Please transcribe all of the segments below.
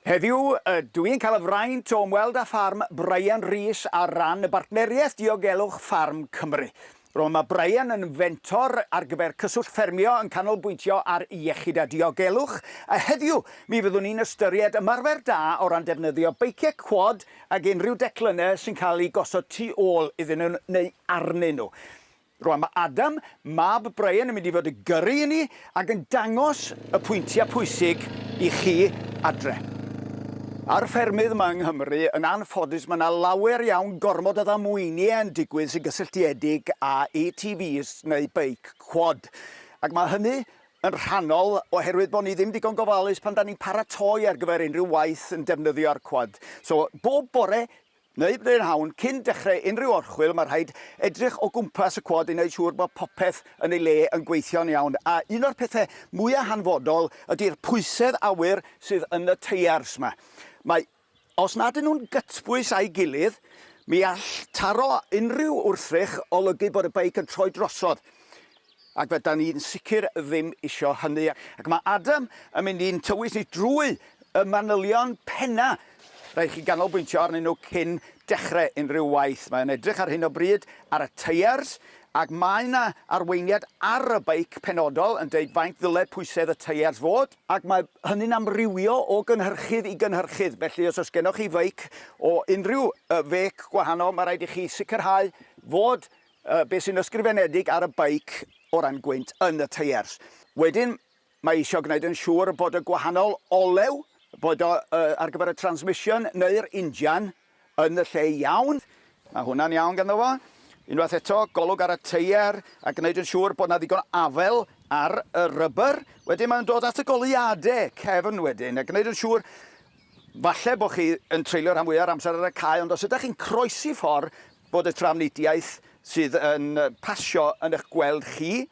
Heddiw, ydw i'n cael y fraint o ymweld â ffarm Brian Rees ar ran y Bartneriaeth Diogelwch Ffarm Cymru. Rôl mae Brian yn fentor ar gyfer Cyswllt Ffermio yn canolbwyntio ar iechyd a diogelwch, a heddiw mi fyddwn ni'n ystyried ymarfer da o ran defnyddio beiciau cwad Ac unrhyw declynnau sy'n cael eu gosod tu ôl iddyn nhw neu arnyn nhw. Rwan mae Adam, mab Brian, yn mynd i fod yn gyrru i ni ac yn dangos y pwyntiau pwysig i chi adre. Ar ffermydd yma yng Nghymru, yn anffodus, mae yna lawer iawn gormod o ddamweiniau yn digwydd sy'n gysylltiedig â ATVs neu beic cwad. Ac mae hynny yn rhannol oherwydd bod ni ddim digon gofalus pan da ni'n paratoi ar gyfer unrhyw waith yn defnyddio'r cwad. So, bob bore neu brynhawn cyn dechrau unrhyw orchwyl mae rhaid edrych o gwmpas y cwad i wneud siŵr bod popeth yn ei le yn gweithio'n iawn a un o'r pethau mwyaf hanfodol ydy'r pwysedd awyr sydd yn y teiars 'ma. Mae Os nad y'n nhw'n gytbwys â'i gilydd, mi all taro unrhyw wrthrych olygu bod y beic yn troi drosodd, ac fe dan ni'n sicr ddim isio hynny. Ac mae Adam yn mynd i'n tywys ni drwy y manylion penna'. Rhaid i chi ganolbwyntio arnyn nhw cyn dechrau unrhyw waith. Mae o'n edrych ar hyn o bryd ar y teiars, ac mae 'na arweiniad ar y beic penodol yn deud faint ddyle pwysedd y teiars fod. Ac mae hynny'n amrywio o gynhyrchydd i gynhyrchydd, felly os oes gennoch chi feic o unrhyw fêc gwahanol, mae rhaid i chi sicrhau fod beth sy'n ysgrifenedig ar y beic o ran gwynt yn y teiers. Wedyn, mae eisiau gwneud yn siŵr bod y gwahanol olew, boed o ar gyfer y transmission neu'r injan, yn y lle iawn. Mae hwnna'n iawn ganddo fo. Unwaith eto, golwg ar y teier a gwneud yn siŵr bod 'na ddigon afel ar y rubber. Wedyn mae'n dod at y goleuadau cefn wedyn a gwneud yn siŵr falle bod chi yn treulio rhan fwya' o'r amser ar y cae ond os ydych chi'n croesi ffordd bod y trafnidiaeth sydd yn pasio yn eich gweld chi.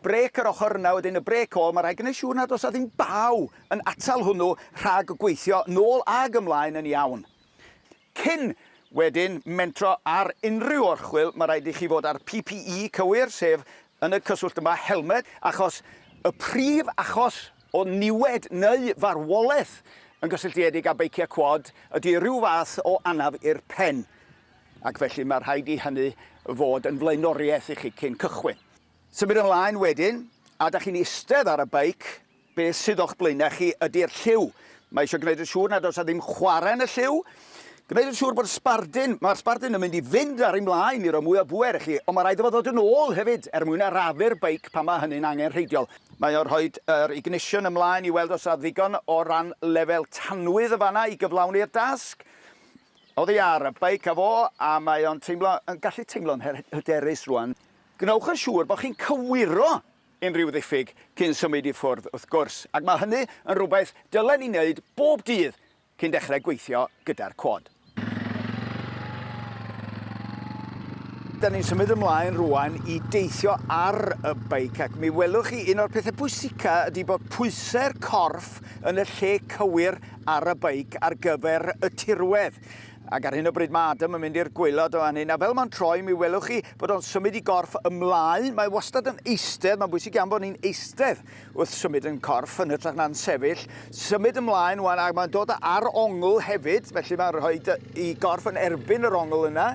Brêc yr ochr yna wedyn, y brêc ôl, mae rhaid gwneud siŵr nad oes 'na ddim baw yn atal hwnnw rhag gweithio nôl ag ymlaen yn iawn. Cyn wedyn mentro ar unrhyw orchwyl, mae rhaid i chi fod â'r PPE cywir, sef, yn y cyswllt yma, helmed, achos y prif achos o niwed neu farwolaeth yn gysylltiedig â beiciau quad ydy rhyw fath o anaf i'r pen, ac felly mae rhaid i hynny fod yn flaenoriaeth i chi cyn cychwyn. Symud ymlaen wedyn, a dach chi'n eistedd ar y beic, be sydd o'ch blaenau chi ydy'r lliw. Mae eisiau gwneud yn siŵr nad oes 'na ddim chwarae yn y lliw, gwneud yn siŵr bod y sbardun, mae'r sbardun yn mynd i fynd ar ei mlaen i roi mwy o bŵer i chi, ond mae rhaid iddo fo ddod yn ôl hefyd er mwyn arafu'r beic pan mae hynny'n angenrheidiol. Mae o'n rhoi yr ignition ymlaen i weld os na ddigon o ran lefel tanwydd yn fan'na i gyflawni'r dasg. Oddi ar y beic a fo, a mae o'n teimlo, yn gallu teimlo'n hyderus rwan. Gwnewch yn siŵr bod chi'n cywiro unrhyw ddiffyg cyn symud i ffwrdd wrth gwrs, ac mae hynny yn rhywbeth dylen ni wneud bob dydd cyn dechrau gweithio gyda'r cwad. Dan ni'n symud ymlaen rwan i deithio ar y beic ac mi welwch chi un o'r pethau pwysica ydy bod pwysau'r corff yn y lle cywir ar y beic ar gyfer y tirwedd. Ac ar hyn o bryd mae Adam yn mynd i'r gwaelod o fan hyn, a fel mae'n troi mi welwch chi bod o'n symud i gorff ymlaen, mae wastad yn eistedd, mae'n bwysig iawn bod ni'n eistedd wrth symud yn corff yn hytrach na'n sefyll, symud ymlaen wan ac mae'n dod ar ongl hefyd, felly mae'n rhoi i gorff yn erbyn yr ongl yna,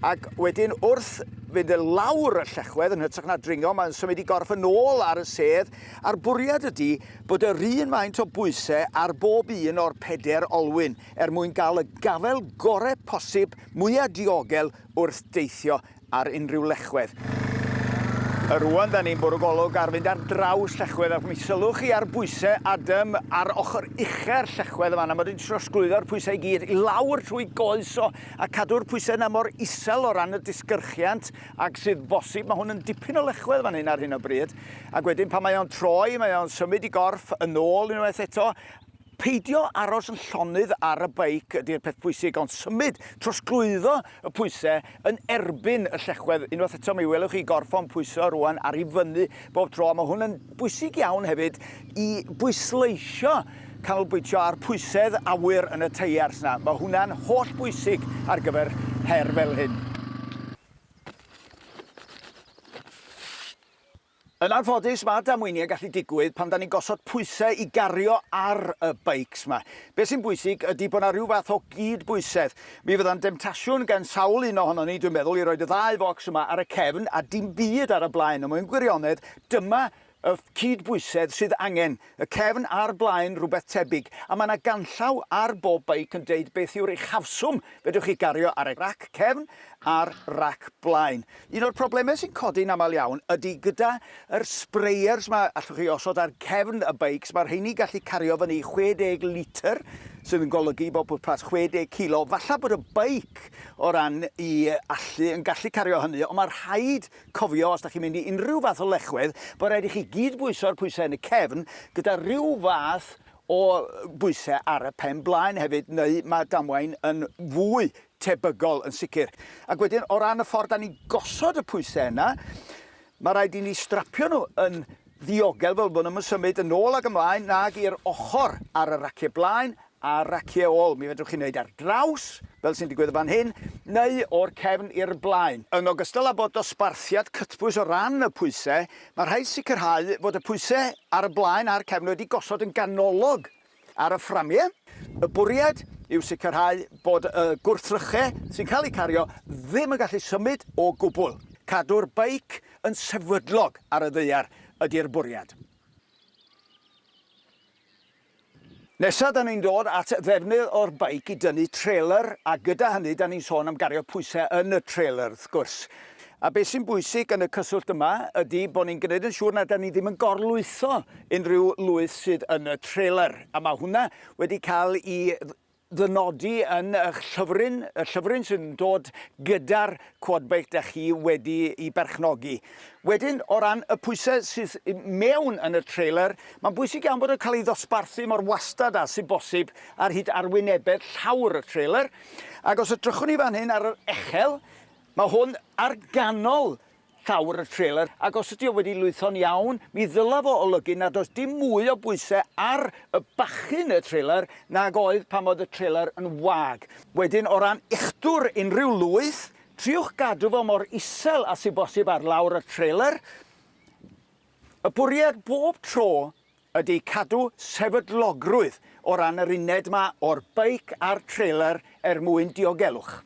ac wedyn wrth fynd e lawr y llechwedd yn hytrach na dringo, mae'n symud i gorff yn ôl ar y sedd, a'r bwriad ydy bod yr un maint o bwysau ar bob un o'r peder olwyn. er mwyn cael y gafael gorau posib, mwya diogel wrth deithio ar unrhyw lechwedd. A rwan, da ni'n bwrw golwg ar fynd ar draws llechwedd, ac mi sylwch chi ar bwysau Adam ar ochr uchau'r llechwedd yma, na mod i'n trosglwyddo'r pwysau i gyd i lawr trwy goes o, a cadw'r pwysau yna mor isel o ran y disgyrchiant ag sydd bosib. Mae hwn yn dipyn o lechwedd fan hyn ar hyn o bryd, ac wedyn pan mae o'n troi, mae o'n symud i gorff yn ôl unwaith eto, Peidio aros yn llonydd ar y beic ydy'r peth pwysig, ond symud, trosglwyddo y pwysau yn erbyn y llechwedd. Unwaith eto, mi welwch chi gorffon pwyso rŵan ar i fyny bob tro, a mae hwn yn bwysig iawn hefyd i bwysleisio canolbwyntio ar pwysedd awyr yn y teiars yna. Mae hwnna'n holl bwysig ar gyfer her fel hyn. Yn anffodus, mae damweiniau gallu digwydd pan 'da ni'n gosod pwysau i gario ar y beics 'ma. Be' sy'n bwysig ydi bod 'na ryw fath o gyd-bwysedd. Mi fydda'n demtasiwn gan sawl un ohonon ni, dwi'n meddwl, i roid y ddau focs yma ar y cefn a dim byd ar y blaen, ond mewn gwirionedd, dyma y cyd-bwysedd sydd angen. Y cefn a'r blaen rhywbeth tebyg, a mae yna ganllaw ar bob beic yn deud beth yw'r uchafswm fedrwch chi gario ar y rac cefn a'r rac blaen. Un o'r problemau sy'n codi'n aml iawn ydy gyda yr sprayers 'ma allwch chi osod ar cefn y beics, mae'r rheiny gallu cario fyny 60 litr sydd yn golygu bod pwrpas 60 kilo, falla bod y beic o ran i allu yn gallu cario hynny ond mae rhaid Cofio, os da chi'n mynd i unrhyw fath o lechwedd, bod rhaid i chi gyd bwyso'r pwysau yn y cefn, gyda rhyw fath o bwysau ar y pen blaen hefyd, neu mae damwain yn fwy tebygol yn sicr. Ac wedyn, o ran y ffordd da ni'n gosod y pwysau yna, mae rhaid i ni strapio nhw yn ddiogel fel bod nhw'm yn symud yn ôl ac ymlaen nag i'r ochr ar y raciau blaen ar raciau ôl, mi fedrwch chi wneud ar draws, fel sy'n digwydd yn fan hyn, neu o'r cefn i'r blaen. Yn ogystal â bod dosbarthiad cytbwys o ran y pwysau, mae rhaid sicrhau fod y pwysau ar y blaen a'r cefn wedi gosod yn ganolog ar y fframiau. Y bwriad yw sicrhau bod y gwrthrychau sy'n cael eu cario ddim yn gallu symud o gwbl. Cadw'r beic yn sefydlog ar y ddaear ydy'r bwriad. Nesa da ni'n dod at ddefnydd o'r beic i dynnu trailer a gyda hynny da ni'n sôn am gario pwyse yn y trailer wrth gwrs. A beth sy'n bwysig yn y cyswllt yma ydi bo ni'n gneud yn siŵr na da ni ddim yn gorlwytho unrhyw lwyth sydd yn y trailer a ma' hwnna wedi ca'l i ddynodi yn y'ch llyfryn, y llyfryn sydd yn dod gyda'r quad bike dach chi wedi i berchnogi. Wedyn, o ran y pwysau sydd mewn yn y trailer, mae'n bwysig iawn bod yn cael ei ddosbarthu mor wastad â sy'n bosib ar hyd arwynebedd llawr y trailer. Ac os edrychwn ni fan hyn ar yr echel, mae hwn ar ganol llawr y trelar ac os ydy o wedi lwytho'n iawn, mi ddylaf o olygu nad oes dim mwy o bwysau ar y bachyn y trelar nag oedd pan oedd y trelar yn wag. Wedyn o ran uchdwr unrhyw lwyth, triwch gadw fo mor isel a sy bosib ar lawr y trelar. Y bwriad bob tro ydy cadw sefydlogrwydd o ran yr uned ma o'r beic a'r trelar er mwyn diogelwch.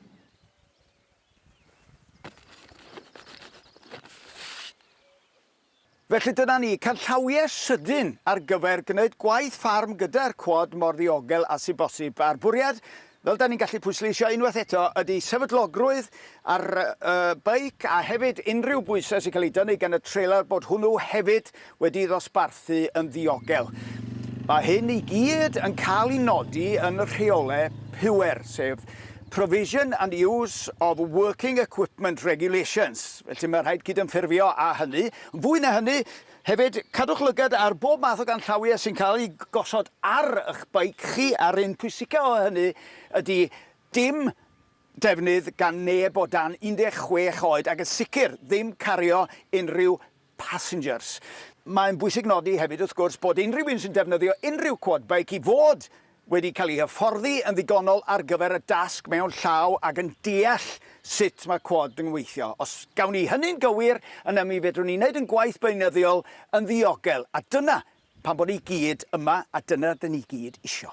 Felly dyna ni, canllawiau sydyn ar gyfer gwneud gwaith ffarm gyda'r cwad mor ddiogel a sy'n bosib, a'r bwriad, fel da ni'n gallu pwysleisio unwaith eto, ydy sefydlogrwydd ar y beic a hefyd unrhyw bwysau sy'n cael eu dynnu gan y trailer bod hwnnw hefyd wedi'i ddosbarthu yn ddiogel. Mae hyn i gyd yn cael ei nodi yn y rheolau pŵer, sef Provision and Use of Working Equipment Regulations, felly mae'n rhaid cydymffurfio â hynny. Yn fwy na hynny, hefyd, cadwch lygad ar bob math o ganllawiau sy'n cael eu gosod ar eich beic chi, a'r un pwysicaf o hynny ydy dim defnydd gan neb o dan 16 oed, ac yn sicr ddim cario unrhyw passengers. Mae'n bwysig nodi hefyd, wrth gwrs, bod unrhyw un sy'n defnyddio unrhyw quad bike i fod wedi cael ei hyfforddi yn ddigonol ar gyfer y dasg mewn llaw ac yn deall sut mae quad yn weithio. Os gawn ni hynny'n gywir, yna mi fedrwn ni wneud ein gwaith beunyddiol yn ddiogel, a dyna pam bod ni gyd yma a dyna rydyn ni gyd isio.